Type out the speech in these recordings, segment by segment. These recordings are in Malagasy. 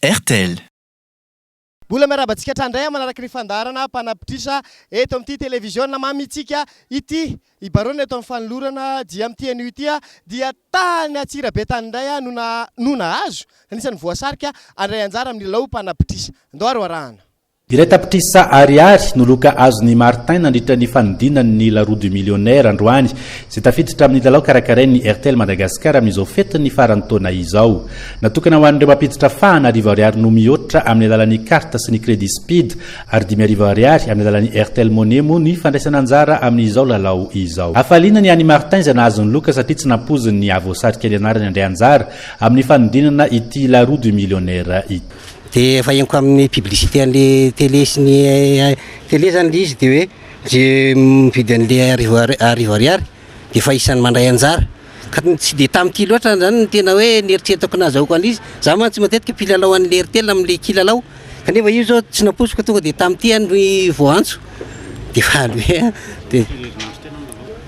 Airtel. Mbola miarahaba antsika hatrany indray manaraka ny fandaharana mpanapitrisa eto amin'ity televiziona mamintsika ity. I Barone eto amin'ny fanolorana dia amin'ity anio ity dia tany Antsirabe tany indray no no nahazo, anisan'ny voasarika handray anjara amin'ny lalao mpanapitrisa. Andao ary ho arahana. Iray tapitrisa Ariary no loka azon'i Martin nandritra ny fanodinany ny La Roue du Millionnaire androany, izay tafiditra amin'ny lalao karakarain'ny Airtel Madagascar amin'izao fetin'ny faran'ny taona izao. Natokana ho an'ireo mampiditra fahana arivo Ariary no mihoatra amin'ny alalan'ny carte sy ny crédit speed ary dimy arivo Ariary amin'ny alalan'ny Airtel Money moa ny fandraisana anjara amin'izao lalao izao. Hafaliana ny an'i Martin izay nahazo ny loka satria tsy nampoiziny ny hahavoasarika ny anarany handray anjara amin'ny fanodinana ity La Roue du Millionnaire ity. Dia efa henoko amin'ny publicité an'le télé sy ny télé zany le izy de hoe ze mividy an'le arivo ar- arivo ariary de efa isan'ny mandray anjara. Ka n- tsy de tam'ty loatra zany ny tena hoe nieritreretako nazahoako an'le izy. Za mantsy matetika mpilalao an'le Airtel am'le kilalao kanefa io zao tsy nampoiziko tonga de tam'ty ah no i- vao antso de faly be ah de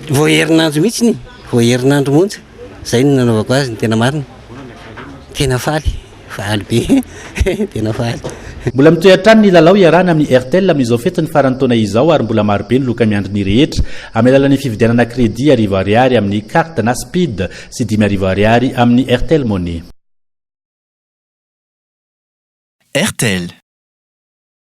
vao herinandro mihitsiny, vao herinandro monja, zay no nanaovako azy ny tena marina, tena faly. Faly be tena faly. Mbola mitohy hatrany ny lalao iarahana amin'ny Airtel amin'izao fetin'ny faran'ny taona izao ary mbola maro be ny loka miandry ny rehetra amin'ny alalan'ny fividianana credit arivo Ariary amin'ny carte na speed sy dimy arivo Ariary amin'ny Airtel Money. Airtel.